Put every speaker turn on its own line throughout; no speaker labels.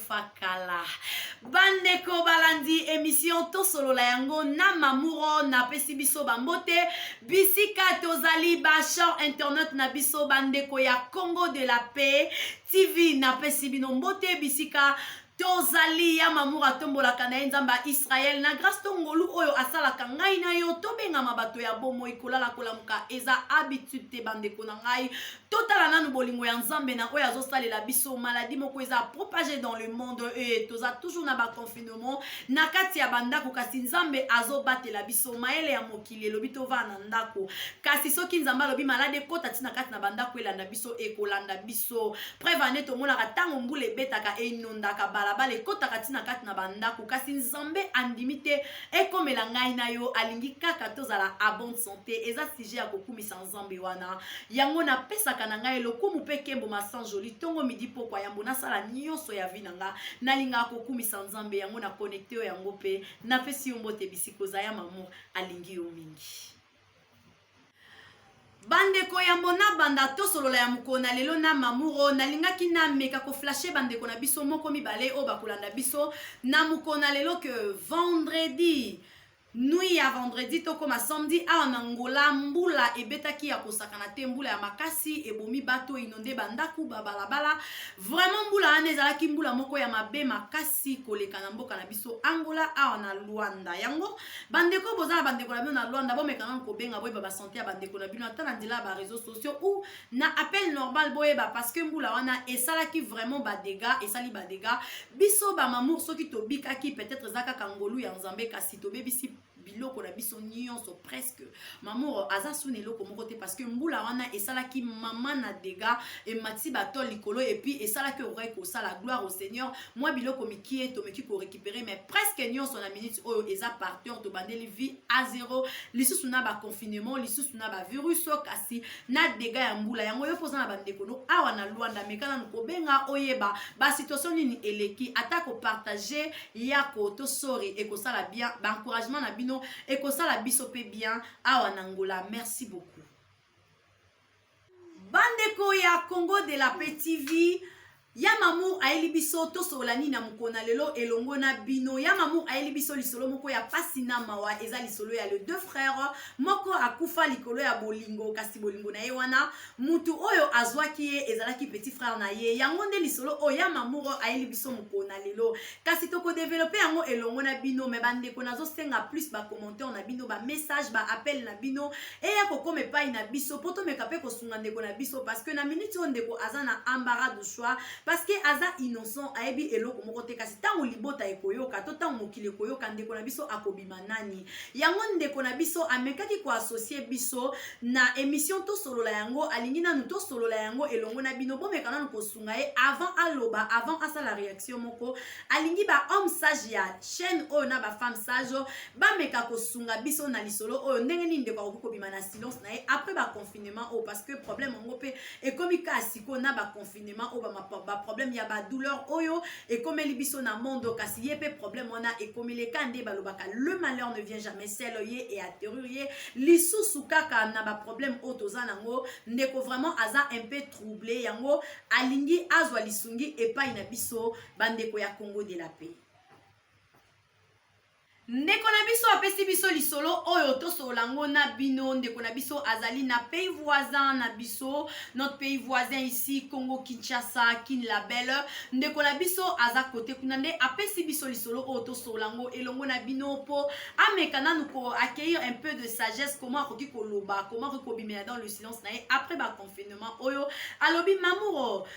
nakufa kala bandeko balandi emission tosolola yango na mamuro napesi biso bambote bisika tozali bachamp internet na biso bandeko ya congo de la paix tv napesi bino mbote bisika tozali ya mamour atombolaka na ye nzambe ya israele na grâce to ngolu oyo asalaka ngai na yo tobengama bato ya bomoi kolala kolamuka eza habitude te bandeko na ngai totala nanu bolingo ya nzambe na oyo azosalela biso maladi moko eza propage dans le monde e toza toujours na baconfinement na kati ya bandako kasi nzambe azobatela biso mayele ya mokili elobi tovaa na ndako kasi soki nzambe alobi maladi ekota ti na kati na bandako elanda biso ekolanda biso preve ane tomonaka ntango mbula ebetaka enondaka balabala ekotaka ti na kati na bandako kasi nzambe andimi te ekomela ngai na yo alingi kaka tozala a bonne santé eza sujet ya kokumisa nzambe wana yango napesaka na ngai lokumu mpe kembo masanjoli ntongo midi pokwa yambo nasala nyonso ya vi na nga nalingaka kokumisa nzambe yango na connecte yo yango mpe napesi yo mbote bisika oza ya mamour alingi yo mingi bandeko ya mona banda tosolola ya mokolo na lelo na mamuro nalingaki nameka koflashe bandeko na biso moko mibale oyo bakolanda biso na mokolo na lelo ke vendredi Nuit ya vendredi tokoma samedi awa na Angola mbula ebetaki ya kosakana te mbula ya makasi ebomi bato inonde bandako babalabala vraiment mbula wana ezalaki mbula moko ya mabe makasi koleka na mboka na biso Angola awa na Luanda yango bandeko boza na bandeko na bino na Luanda bomeka nanu kobenga boyeba basante ya bandeko na bino ata na nzela ya bareseau sociaux ou na appel normal boyeba parce que mbula wana esalaki vraiment badega esali badega biso bamamour soki tobikaki peut-être eza kaka ngolu ya nzambe kasi tobebisi biloko na biso nyonso presque mamour aza suna eloko moko te parce que mbula wana esalaki mama na dega emati batol likolo epuis esalaki okokaki kosala gloire au seigneur mwa biloko mikie tomeki korécupere mais presque nyonso na minute oyo eza parteur tobandeli vie a zero lisusu na baconfinement lisusu na bavirus kasi na dega ya mbula yango yo mpoza na bandeko no awa na lwanda meka nanu kobenga oyeba basituation nini eleki ata kopartage yako to sori ekosala bien baencouragement na bino ekosala biso mpe bien awa na ngola merci beaucoup bandeko ya congo de la pe tv ya mamour ayeli biso tosolola nini na mokolo na lelo elongo na bino ya mamour ayeli biso lisolo moko ya mpasi na mawa eza lisolo ya le deux frère moko akufa likolo ya bolingo kasi bolingo na ye wana mutu oyo azwaki ye ezalaki petit frère na ye yango nde lisolo oyo ya mamour ayeli biso mokolo na lelo kasi tokodevelope yango elongo na bino me bandeko nazosenga plus bacommentaire na bino bamessage baappel na bino eya kokoma epai na biso mpo tomeka mpe kosunga ndeko na biso parceke na miniti oyo ndeko aza na ambara du choix parceke aza innocent ayebi eloko moko te kasi ntango libota ekoyoka to ntango mokili ekoyoka ndeko na biso akobima nani yango ndeko na biso amekaki koassocie biso na émission tosolola yango alingi nanu tosolola yango elongo na bino bomeka nanu kosunga ye avant aloba avant asala réaction moko alingi ba homme sage ya chaîne oyo na ba femme sage bameka kosunga biso na lisolo oyo ndenge nini ndeko akoki kobima na silence na ye après ba confinement oyo parce que problème yango mpe ekomi kaa sikoyo na ba confinement oyo ba problème ya ba douleur oyo ekomeli biso na monde kasi ye mpe problème wana ekomeli eka nde balobaka le malheur ne vient jamais seul ye e atterrir ye lisusu kaka na ba problème oyo toza nango ndeko vraiment aza un peu trouble yango alingi azwa lisungi epai na biso bandeko ya congo de la paix ndeko na biso apesi biso lisolo oyo tosolola yango na bino ndeko na biso azali na pays voisin na biso notre pays voisin ici congo kinshasa kin la belle ndeko na biso aza kote kuna nde apesi biso lisolo oyo tosolola yango elongo na bino mpo ameka nanu ko accueillir un peu de sagesse comment akoki koloba comment akoki kobimela dans le silence na ye après ba confinement oyo alobi mamuro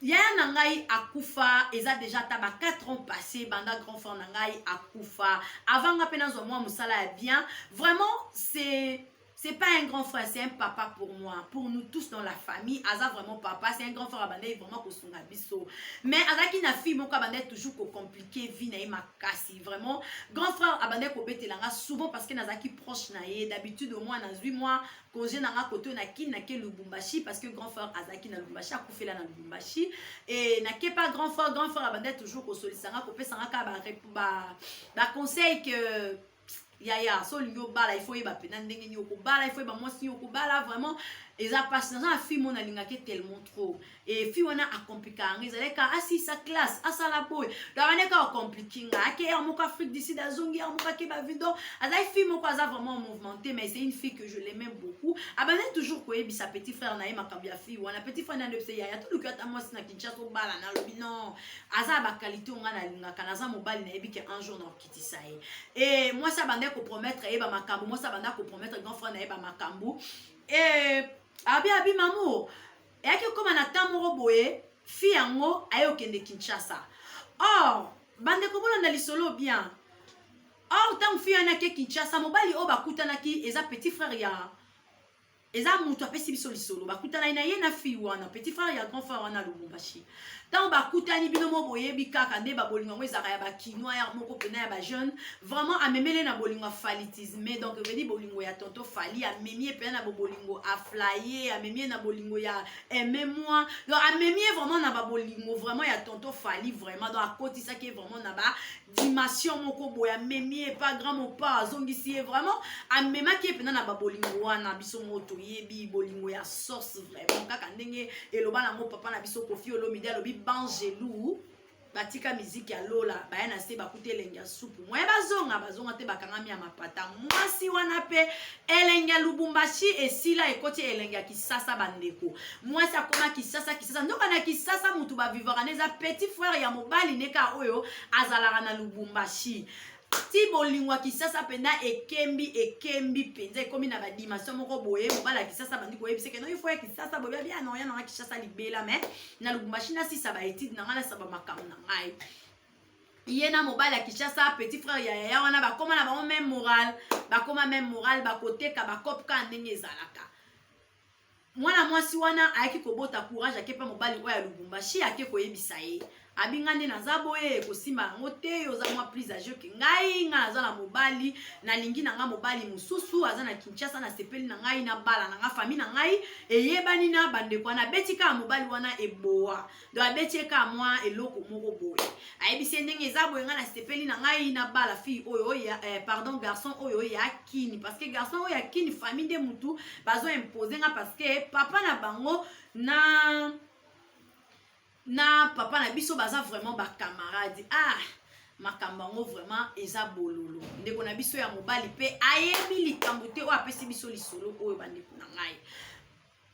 yaya na ngai akufa eza deja ata ba 4 ans passé banda grand frère na ngai akufa avant nga mpe nazwa mwa mosala ya bien vraiment c'est c'est pas un grand frère c'est un papa pour moi pour nous tous dans la famille aza vraiment papa c'est un grand frère abandaki vraiment kosunga biso mais azalaki na fille moko abandaki toujours kocomplike vie na ye makasi vraiment grand frère abandaki kobetela nga souvent parce que nazalaki proche na ye d'habitude au moins nazwi mwa congé na nga koto na kin nake lubumbashi parce que grand frère azalaki na lubumbashi akufela na lubumbashi e nake pa grand frère grand frère abandaki toujours kosolisa nga kopesa nga kaka baconseil que yaya so olingi obala ifo oyeba mpena ndenge nini okobala ifo oyeba mwasi nini okobala vraiment eza mpasi naza na fille mona alingaki tellement trop et fille wana acomplika yango ezalaki kaka asisa classe asala boye davane kaka acompliki nga ake ya moko afrique du sud azongi ya moko ake bavido azalaki fille moko aza vraiment mouvementé mais c'est une fille que je l'aimais beaucoup abandaki toujours koyebisa petit frère na ye makambo ya fille wana petit frère nani oyebisa yaya toluki ata mwasi na kinshasa obala na lobi non aza ya bakalite oyo ngai nalingaka naza mobali nayebi ke un jour nakokitisa ye e mwasi abandaki kopromettre ye bamakambo mwasi abandaki kopromettre grand frère na ye bamakambo e abi abi mamour eyaki kokoma na temps moko boye fille yango aye kokende kinshasa or bandeko bolanda lisolo bien or ntango fille wana ake kinshasa mobali oyo bakutanaki eza petit frère ya eza moto apesi biso lisolo bakutanaki na ye na fille wana petit frère ya grand frère wana lubumbashi ntango bakutani bino mo boyebi kaka nde babolingo yango ezalaka ya bakinois yar moko mpena ya bajeune vraiment amemele na bolingo ya falitisme donc evedi bolingo ya tonto fali amemi ye mpena na bobolingo aflaye amemi ye na bolingo ya aime moi donc amemi ye vraiment na babolingo vraiment ya tonto fali vraiment donc akotisaki ye vraiment na ba dimension moko boye amemi ye pa grand mopa azongisi ye vraiment amemaki ye mpenza na babolingo wana biso moko toyebi bolingo ya source vraiment kaka ndenge eloba nango papa na biso kofi olomide alobi bangelou batika miziki ya lola baya na se bakuta elengi ya supu moye bazonga bazonga te bakangami ya mapata mwasi wana mpe elengi ya lubumbashi esila ekoti elengi ya kisasa bandeko mwasi akoma kisasa kisasa ndoka na kisasa motu bavivaka na eza petit frère ya mobali neka oyo azalaka na lubumbashi ti bolingo ya kisasa mpenza ekembi ekembi mpenza ekomi na badimension moko boye mobali ya kisasa bandi koyebisa eke noifo ya kisasa boye babi anoya nanga kisasa libela me na lubumbashi nasisa baetide na ngai nasaba makambo na ngai ye na mobali ya kinshasa petit frère ya yaya wana bakóma na bango meme moral bakóma meme moral bakoteka bakope kaka ndenge ezalaka mwana mwasi wana ayaki kobota courage ake mpe mobali oyo ya lubumbashi ake koyebisa ye abinga nde naza boye kosimba yango te oza mwa plus age oke ngai ngai naza na mobali nalingi na ngai mobali mosusu aza na kinshasa nasepeli na ngai na bala na ngai fami na ngai eyebani na bandeko wana abeti kaka mobali wana eboa do abeti ye kaka mwa eloko moko boye ayebisi ye ndenge eza boye ngai nasepeli na ngai nabala fille oyo oya eh, pardon garçon oyo oya kini parce que garçon oyo ya kini famille nde mutu bazo impose nga parce que papa na bango na na papa na biso baza vraiment bacamarade ah makambo yango vraiment eza bololo ndeko na biso ya mobali mpe ayebi likambo te oyo apesi biso lisolo oyo bandeko na ngai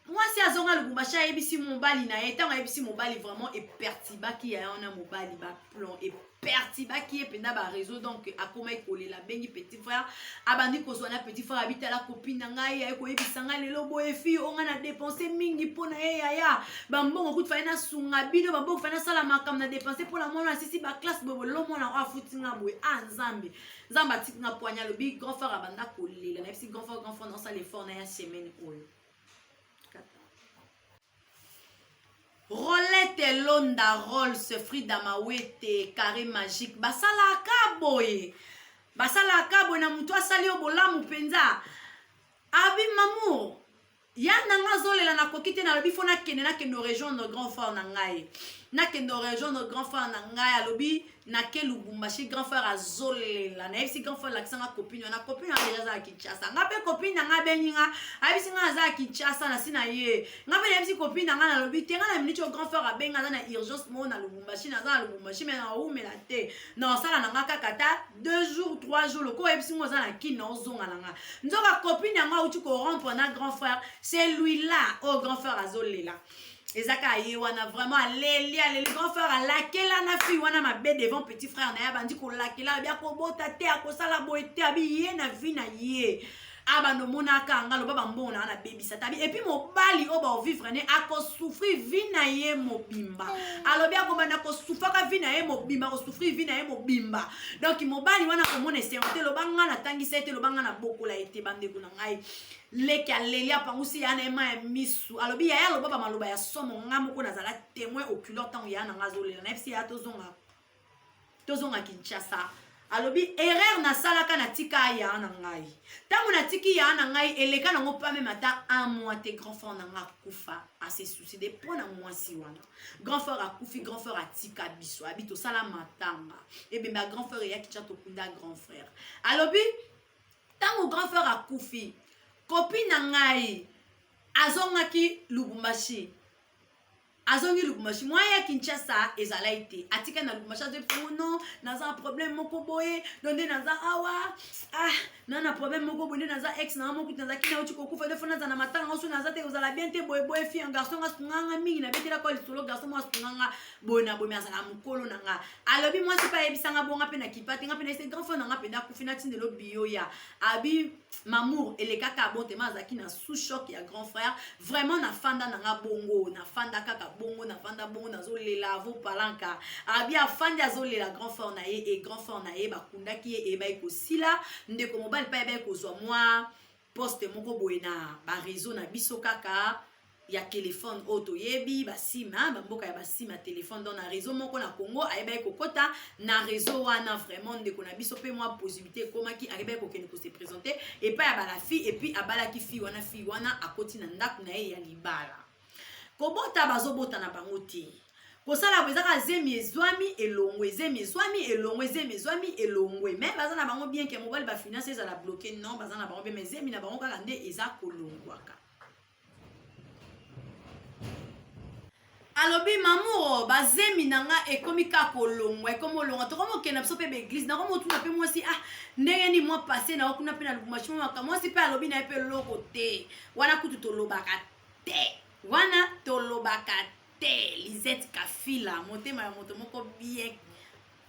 mwasi azonga lubumbashi ayebisi mobali na ye ntango ayebisi mobali vraiment epertibaki ya wana mobali baplon epertibaki ye mpenza bareseau donc akomaki kolela abengi petit frère abandi kozwa na petit frère abitala kopi na ngai aye koyebisa ngai lelo boye fi o ngai na dépense mingi mpo na ye yaya bambongo kutu fai nasunga bino bambongo fai nasala makambo na dépense mpo na mwana asisi baklasse boye bolelo mwana oyo afuti nga boye a ah, nzambe nzambe atiki nga poigna lobi grand frère abanda kolela nayebisi grand frère grand frère naosala effort na ya semaine oyo rolete elonda rolls frida mawete carré magique basalaka boye basalaka boye na motu asali yo bolamu mpenza abi mamour ya na nga azolela nakoki te nalobi fo nakende nakende orejoindre grand frère na ngai nakende orejoindre grand frère na ngai alobi nake lubumbashi grand frère azolela nayebisi grand frère alakisa nga copine wana copine wana deja aza ya kinshasa nga mpe copine na nga abengi nga ayebisi nga aza ya kinshasa nasi na ye nga mpe nayebisi copine na nga nalobi te nga na miniti oyo grand frère abengi aza na urgence moko na lubumbashi naza na lubumbashi mai naumela te naosala na nga kaka ta deux jours trois jours lokola oyebisi nga oza na kini naozonga na nga nzoka copine yango auti korompre na grand frère c'est lui là oyo grand frère azolela eza kaka ye wana vraiment aleli aleli grand frère alakela na fille wana mabe devant petit frère na ye abandi kolakela abi akobota te akosala boye te abi ye na vie na ye abanda omonaka nga loba bambongo na nga nabebisa tabi epuis mobali oyo baovivre ne akosouffrir vi na ye mobimba alobi akobanda kosufaka vi na ye mobimba kosouffrir vi na ye mobimba donk mobali wana akomona esengo te loba nga natangisa ye te loba nga nabokola ye te bandeko na ngai leki aleli apangusi yaya na ye mai ya misu alobi yaya aloba bamaloba ya somo ngai moko nazala témoin oculaire ntango yaya na ngai azolela nayebisi yaya tozonga tozonga kinshasa alobi erreur nasalaka natika yaya na ngai ntango natiki yaya na ngai eleka nango mpa meme ata un mois te grand frère na ngai akufa ase suicide mpo na mwasi wana grand frère akufi grand frère atika biso abi tosala matanga ebembe ya grand frère eyaki tya tokunda grand frère alobi ntango grand frère akufi kopi na ngai azongaki lubumbashi azongi lubumbashi mwa ya kinshasa ezalai te atika na lubumbashi azoi mpongo no naza na problème moko boye no nde naza awa ah na na problème moko boye nde naza ex na nga mokuti nazalaki na oti kokufa nde fo naza na matanga oso naza te ozala bien te boye boye fi ya garçon nga sunganga mingi nabetelaka lisolo garçon mwa sunganga boye na boye azala mokolo na nga alobi mwasi mpe ayebisa nga bonga mpe na kipa te nga mpe na ese grand frère na nga mpenza akufi natindelo biyo ya abi mamour elekaka bon tema azalaki na sous choc ya grand frère vraiment nafanda na nga bongo nafanda kaka bongo nafanda bongo nazolela avo palanka abi afandi azolela grand frère na ye e grand frère na ye bakundaki ye eyebaki kosila ndeko mobali mpe ayebaki kozwa mwa poste moko boye na ba réseau na biso kaka ya telefone oyo toyebi basima bamboka ya basima telefone donc na réseau moko na congo ayebaki kokɔta na réseau wana vraiment ndeko na biso mpe mwa possibilité ekomaki ayebaki kokende kose présente epai ya bala fille epuis abalaki fille wana fille wana akoti na ndako na ye ya libala kobota bazobota na bango te kosala boye ezaka zemi ezwami elongwe zemi ezwami elongwe zemi ezwami elongwe me baza na bango bien ke mobali bafinance ezala bloke non baza na bango bien me zemi na bango kaka nde eza kolongwaka alobi mamuro bazemi na nga ekomi kaka kolongwa ekomi olongwa tokomi okende na biso mpe baeglise nakomi otuna mpe mwasi ah ndenge nini mwa passe na yo kuna mpe na lubumashi mwa makambo mwasi mpe alobi na ye mpe eloko te wana kutu tolobaka te te wana tolobaka te lisette kafila motema ya moto moko bien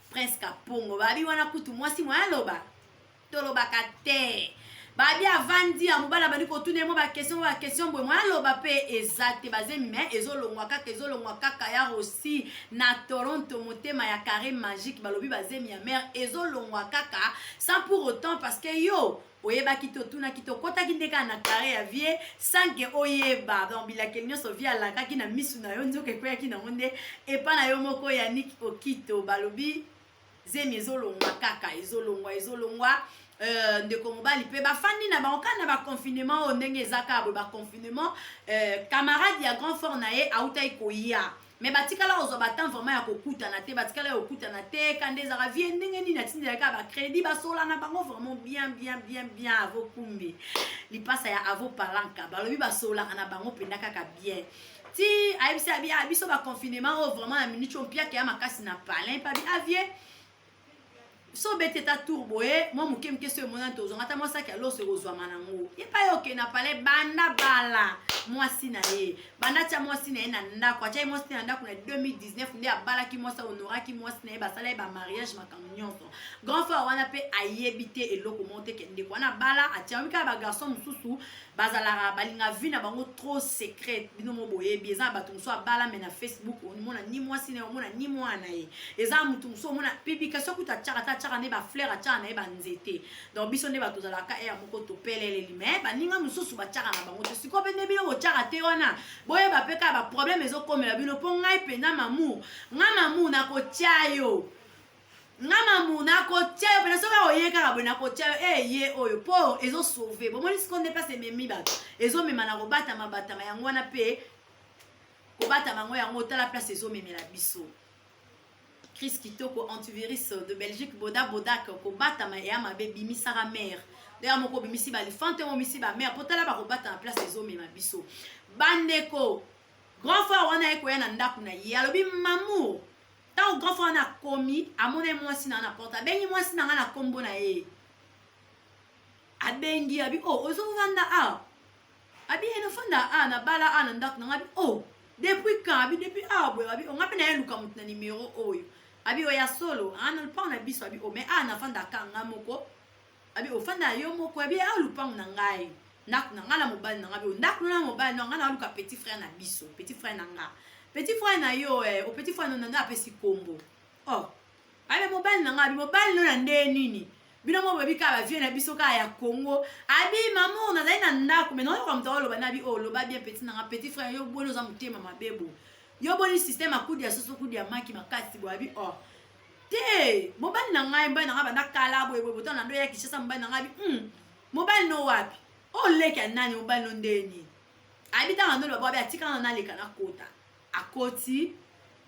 prince kapongo babi wana kutu mwasi moya aloba tolobaka te babi avandi ya mobali abandi kotuna ye mwa bakestion mwa bakestion boye moya aloba mpe eza te bazemi me ezolongwa kaka ezolongwa kaka ya rosi na toronto motema ya carré magique balobi bazemi ya mare ezolongwa kaka sans pour autant parce que yo oyebaki te otunaki te okotaki nde kaka na kare ya vie sanke oyeba donc bilakeli nyonso vie alakaki na misu na yo nzoka ekweyaki nango nde epa na yo moko yanik okito balobi zemi ezolongwa kaka ezolongwa ezolongwa Euh, ndeko mobali mpe bafandi na bango kaka na baconfinement oyo ndenge eza kaka boye baconfinement euh, camarade ya grand fort na ye autaki koya mais batikala kozwa batemp vraiment ya kokutana te batikala ya kokutana te kanda ezaka vie ndenge nini atindelaka bacrédit basolana bango vraiment bien bien bien bien avo kumbi lipasa ya avo palanka balobi basolaka na bango mpenza kaka bien ti ayebisi abi ah, biso baconfinement oyo vraiment ya minute oyo mpiaka ya makasi na palin pabi avie ah, so obeti ata tour boye mwa moke moke so emonani tozwanga ata mwa saki ya loso ekozwama nango epai oke na pale banda bala mwasi na ye banda atya mwasi na ye na ndako atyaki mwasi na ye na ndako na 2019 nde abalaki mwasi ahonoraki mwasi na ye basala ye bamariage makambo nyonso grand frère wana mpe ayebi te eloko moko te ke ndeko wana abala atyami kaka bagarçon mosusu bazalaka balinga vie na bango trop secret bino mo boyebi eza na bato mosusu abala me na facebook omona ni mwasi na ye omona ni mwana na ye eza na moto mosusu omona publication kutu atyaka te atyaka nde bafleur atyaka na ye banzete donc biso nde bato ozalaka ere moko topeleleli me baninga mosusu batyaka na bango te sikoyo mpe nde bino botyaka te wana boyeba mpe kaka baproblème ezokomela bino mpo ngai mpenza mamour ngai mamour nakotya yo nga mamu nakotia yo pena soki oye kaka boye nakotia yo ee eh, ye oyo po ezo sauve bomoni siko nde place ememi bato ezomema na kobatama batama yango wana mpe kobatama yango yango otala place ezomemela biso crise kitoko antivirus de belgique boda bodak kobatama eya mabe bimisaka mare ndenge moko obimisi balifante omisi bamare mpo tala bakobatama place ezomema biso bandeko grand frère wana ye koya na ndako na ye alobi mamour ntango grand frère wana akomi amona ye mwasi na na porte abengi mwasi na ngai na nkombo na ye abengi abi o oh, ozovanda a ah. abi eno fanda a ah, na bala a na ndako na ngai abi o oh, depuis quand abi depuis awa boye abi onga mpe na ye luka moto na nimero oyo abi oya solo ana lpang na biso abi o me a nafanda ka nga moko abi ofanda yo moko abi awa lupango na ngai ndako na ngai na mobali na ngai bi ndako na mobali na ngai na luka petit frère na biso petit frère na ngai petit frère na yo eh, o petit frère na ngai apesi kombo oh abi mobali na ngai abi mobali no na nde nini bino mo boyebi kaka bavie na biso kaka ya congo abi mamour nazali na ndako mai naoyoka moto oloba na bi oyo oh, loba bien petit na ngai petit frère yo boni oza motema mabebo yo boni système akudi ya soso kudi ya maki makasi boyabi or oh. te mobali na ngai mobali na ngai banda kala boye boye botana ndo ya kishasa mobali na ngai bi mm, mobali no wapi oleki oh, ya nani mobali no ndenge nini ayebi ntango ndo loba babe atikala na naleka nakota akoti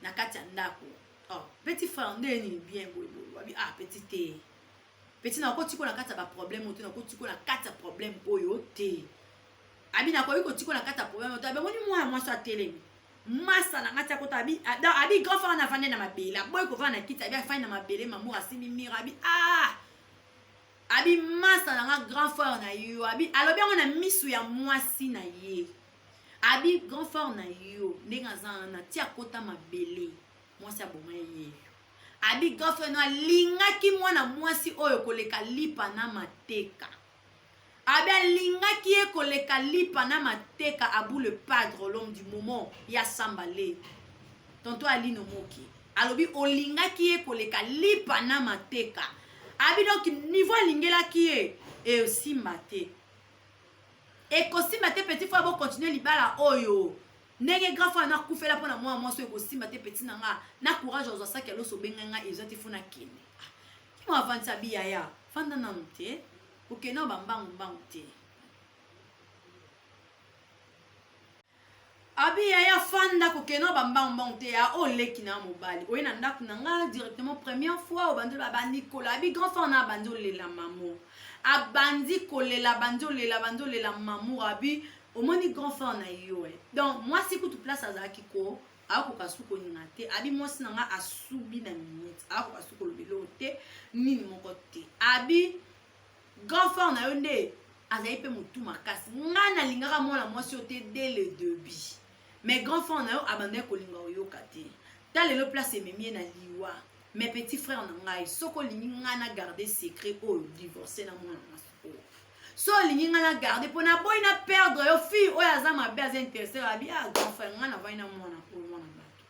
na kati ya ndako oh, petit frère ndenge nini bien boye boye wabi ah petit te peti nakoti ko na kati ya baproblème oyo te nakoti ko na kati ya problème oyo te abi nakoki kotikola kati ya problème oto abemoni mwana mwasi atelemi masa na ngati akota abi abi grand frère na vande na mabele aboyi kovanda na kiti abi afandi na mabele mamour asimbi mire abi ah abi masa na nga grand frère na yo abi alobi yango na misu ya mwasi na ye abi grand frère na yo ndenge aza wana ti akota mabele mwasi aboma ye abi grand frère no alingaki mwana mwasi oyo koleka lipa na mateka Abia lingaki ye koleka lipa na mateka abu le padre l'homme du moment ya samba le tonto alino moki alobi olingaki ye koleka lipa na mateka abi donc niveau alingelaki ye esimba te ekosimba te petit fois bokontinue libala oyo ndenge grand fois nakufela mpo na mwana mwasi oyo ekosimba te petit na nga na courage ozwa saki ya loso obenga nga eza te fo nakende Kimo avandisa bi yaya, fanda nanu te, oke nao ba mbangu mbangu te. abi yaya fanda kokena bambangbang te ya oyo oh, leki na mobali oye na ndako na nga directement première fois obandi oloba abandi kola abi grand frère na abandi olela mamo abandi kolela abandi olela abandi olela mamour abi omoni grand frère na yo eh. donc mwasi kutu place azalaki ko akoka su kolinga te abi mwasi na ngai asubi na minute akoka su koloba eloko te nini moko te abi grand frère na yo nde azali mpe motu makasi ngai nalingaka mwana mwasi oyo te de le debut mais grand frère na yo abandaki kolinga oyoka te ta lelo place ememi ye na liwa mais petit frère na ngai soki olingi ngai na garde secret oyo divorce na mwana mwasi so olingi ngai na garde mpo naboyi na perdre yo fille oyo aza mabe aza interesse abi a ah, grand frère ngai navandi na mwana oyo mwana bato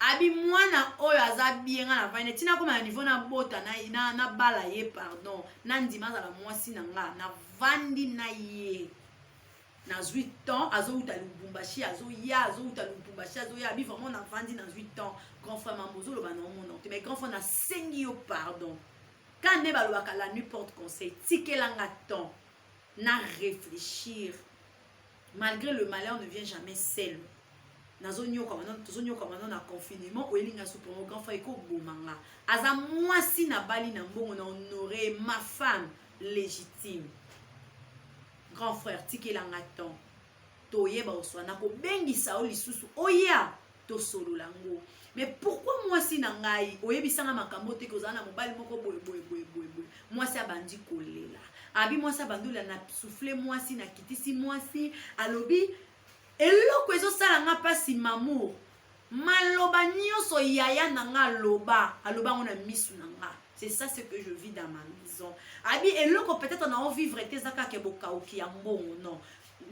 abi mwana oyo aza bie ngai navandi ntina akoma na niveau nabota nabala na, na ye pardon nandima azala mwasi na ngai navandi na ye nazwi temps azowuta lubumbashi azoya azowuta lubumbashi azoya abi vraiment navandi nazwi temps grand frère mambo ozoloba na omona te mais grand frère nasengi yo pardon Quand nde balobaka la nuit porte conseil, tikela nga temps na réfléchir. Malgré le malheur ne vient jamais seul. nazonyoka wana tozonyoka wana na confinement oyeli nga supo yango grand frère ekoboma nga aza mwasi nabali na mbongo na honore ma femme légitime grand frère tikela nga temps toyeba oswa nakobengisa yo lisusu oya tosolola ngo mais pourquoi mwasi na ngai oyebisanga makambo te kozala na mobali moko boye boye boye boye boye mwasi abandi kolela abi mwasi abandi olela na souffle mwasi nakitisi mwasi alobi eloko ezosala nga mpasi mamour maloba nioso yaya na nga aloba aloba yango na misu na nga c'est ça ce que je vis dans ma maison abi eloko peut-être na ovivre te eza kaka bokauki ya mbongo non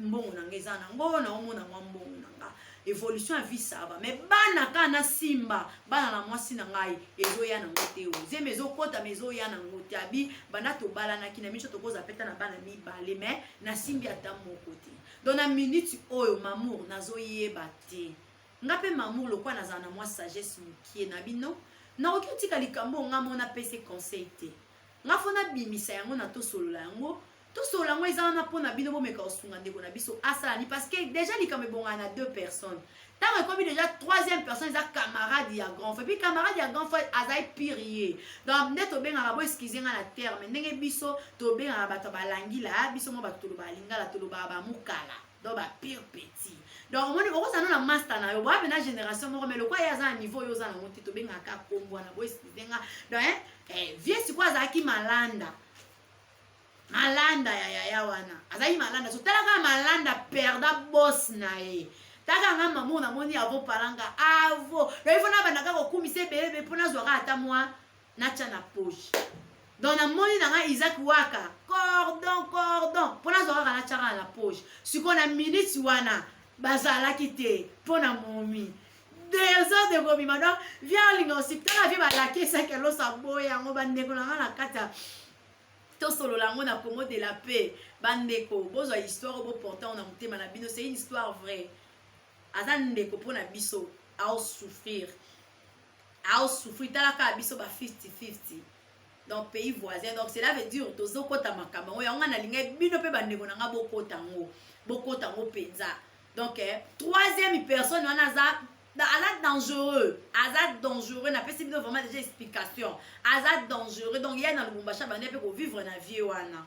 mbongo na nga eza nango naomona mwa mbongo na nga évolution ya vie sava mais bana kaka nasimba bana na mwasi na ngai ezoya nango te ozemi ezokota ma ezoya nango te abi banda tobalanaki na miso tokozwa peta na bana mibale mais nasimbi ata moko te donc na minute oyo mamour nazoyeba te nga mpe mamour lokola nazala na mwa sagesse mokie na bino nakoki otika likambo oyo nga mona pese conseil te nga fo nabimisa yango na tosolola yango tosolola yango eza wana mpo na bino bomeka kosunga ndeko na biso asala ni parce que déjà likambo ebongana na deux personnes ntango ekomi deja troisième personne eza camarade ya grand frère puis camarade ya grand frère azali pire ye donc nde tobengaka bo excuse nga na terme ndenge biso tobengaka bato ya balangila ah, biso mwa bato tolobaka lingala tolobaka bamukala donc ba pire petit donc omoni okozala na master na yo boya mpe na génération moko mais lokola ye aza na niveau oyo oza nango te tobengaka kaka kombo wana bo excuse nga donc eh, vieux sikoyo azalaki malanda malanda ya yaya wana azalaki malanda so tala kaka malanda perda bos na ye taka nga mamo namoni avo palanga avo loyi mpo nabanda kaka kokumisa ebele be mpo nazwa kaka ata mwa natya na poche donc namoni na ngai isaac waka cordon cordon mpo nazwa kaka natya kaka na poche sikoyo na miniti wana bazalaki te mpo na momi desordre de kobima donc via olinga osipitala vie balakisaki alosa boye yango bandeko na ngai na kati ya tosolola yango na congo de la paix bandeko bozwa histoire oyo boporte yango na motema na bino c'est une histoire vraie aza ndeko mpo na biso aosouffrir aosouffrir tala kaka biso ba 50 50 donc pays voisin donc cela veut dire tozokota makambo yango yango nga nalingai bino mpe bandeko na nga bokota yango bokota yango mpenza donc eh, troisième personne wana aza aza dangereux aza dangereux napesi bino vraiment déjà explication aza dangereux donc ya na lubumbashi abandi mpe kovivre na vie wana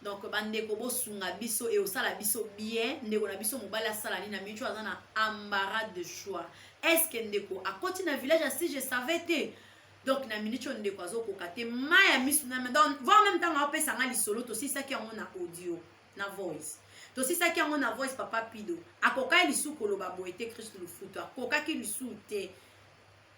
donc bandeko bosunga biso e osala biso bien ndeko na biso mobali asala nini na mico aza na embarras de choix est ce que ndeko akoti na village ya si je savais te donc na minute oyo ndeko azokoka te mai ya miso na donc voir meme ntango apesa ngai lisolo tosilisaki yango na audio na voice tosisaki yango na voice papa pido akokaki lisusu koloba boye te kristu lufutu akokaki lisusu te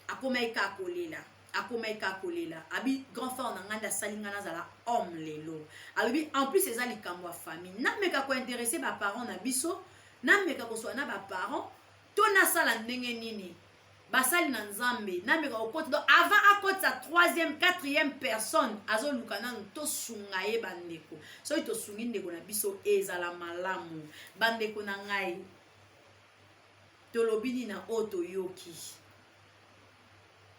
akomaki kaka kolela akomaki kaka kolela abi grand frère na ngai nde asali ngai nazala homme lelo alobi en plus eza likambo ya famille nameka kointeresse baparent na biso nameka koswa na baparent to nasala ndenge nini basali na nzambe nameka kokota donc avant akotisa troisième quatrième personne azoluka nanu tosunga ye bandeko soki tosungi ndeko na biso ezala malamu bandeko na ngai tolobi nini na oyo toyoki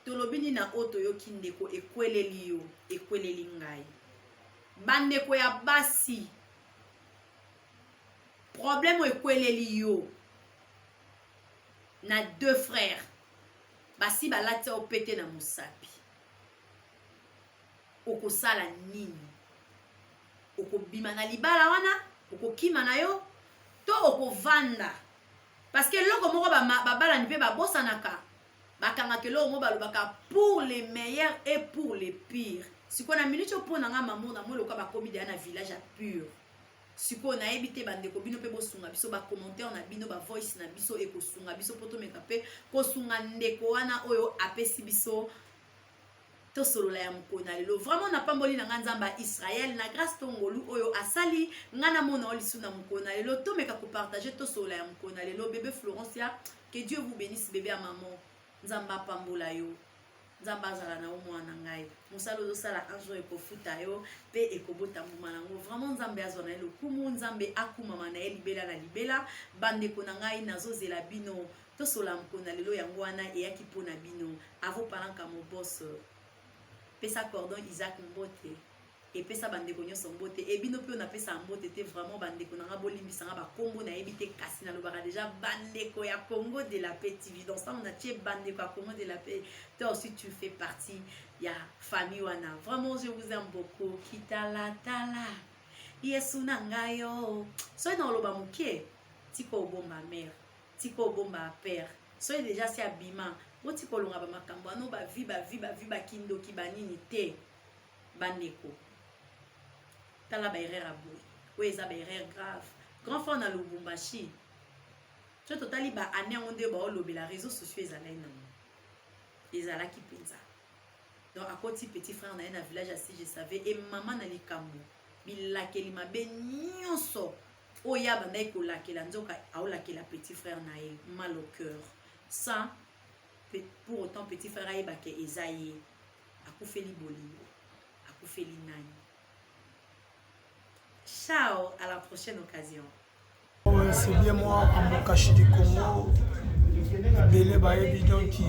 tolobi nini na oyo toyoki ndeko ekweleli yo ekweleli ngai bandeko ya basi problème ekweleli yo na deux frères basi balati yo pete na mosapi okosala nini okobima na libala wana okokima na yo to okovanda parce que eloko moko babalani mpe babosanaka bakangaka eloko moko balobaka pour les meilleurs et pour les pires sikoyo na minute oyo mpo na ngai mamour na moi eloka bakomi deya na village ya pure sikoyo nayebi te bandeko bino mpe bosunga biso bacommentaire na bino bavoice na biso ekosunga biso mpo tomeka mpe kosunga ndeko wana oyo apesi biso tosolola ya mokolo na lelo vraiment napamboli na ngai nzambe ya israel na grace to ngolu oyo asali ngai namona o lisu na mokolo na lelo tomeka kopartage tosolola ya mokolo na lelo bebe florence ya que dieu vous bénisse bebe ya maman nzambe apambola yo nzambe azala na yo mwana ngai mosala ozosala un jour ekofuta yo mpe ekobota mbuma na yango vraiment nzambe azwa na ye lokumu nzambe akumama na ye libela na libela bandeko na ngai nazozela bino tosola mpona lelo yango wana eyaki mpo na bino avopalanka mobos pesa cordon isaac mbote epesa bandeko nyonso mbote e bino mpe napesaka mbote te vraiment bandeko na nga bolimbisa nga bakombo nayebi te kasi nalobaka deja bandeko ya congo de la paix tv donc ntango natie bandeko ya congo de la paix toi aussi tu fais partie ya famille wana vraiment je vous aime beaucoup kitalatala yesu na ngai yo soki naoloba moke tika obomba mare tika obomba père soki deja si abima botika olonga bamakambo ano bavi bavi bavi bakindoki banini te bandeko tala ba erreur ya boye oyo eza ba erreur grave grand frère na lubumbashi so totali ba année yango nde baolobela réseau sociaux ezalaki nango ezalaki mpenza donc akoti petit frère na ye na village ya si je savais e mama na likambo bilakeli mabe nyonso oyo ye abandaki kolakela nzoka aolakela petit frère na ye mal au cœur sans pour autant petit frère ayeba ke eza ye akufeli bolingo akufeli nani ciao à la prochaine occasion c'est
bien moi amokashi du congo ebele bayebi donc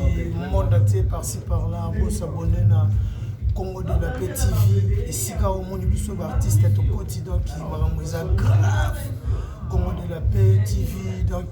monde atie parci par là bosabone na congo de la paix tv esika omoni biso baartiste tokoti donc makambo eza grave congo de la paix tv donc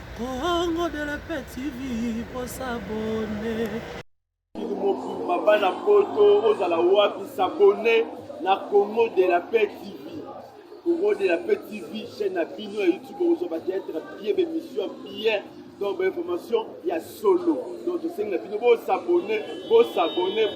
Congo de la paix TV pour s'abonner.
mobimba bana poto ozala wapi sabone na congo de la paix tv congo de la paix tv chaîne na bino ya youtube okozwa bateatre bien bemission bien donc bainformation ya solo donc tosengi na bino bosabone bosabone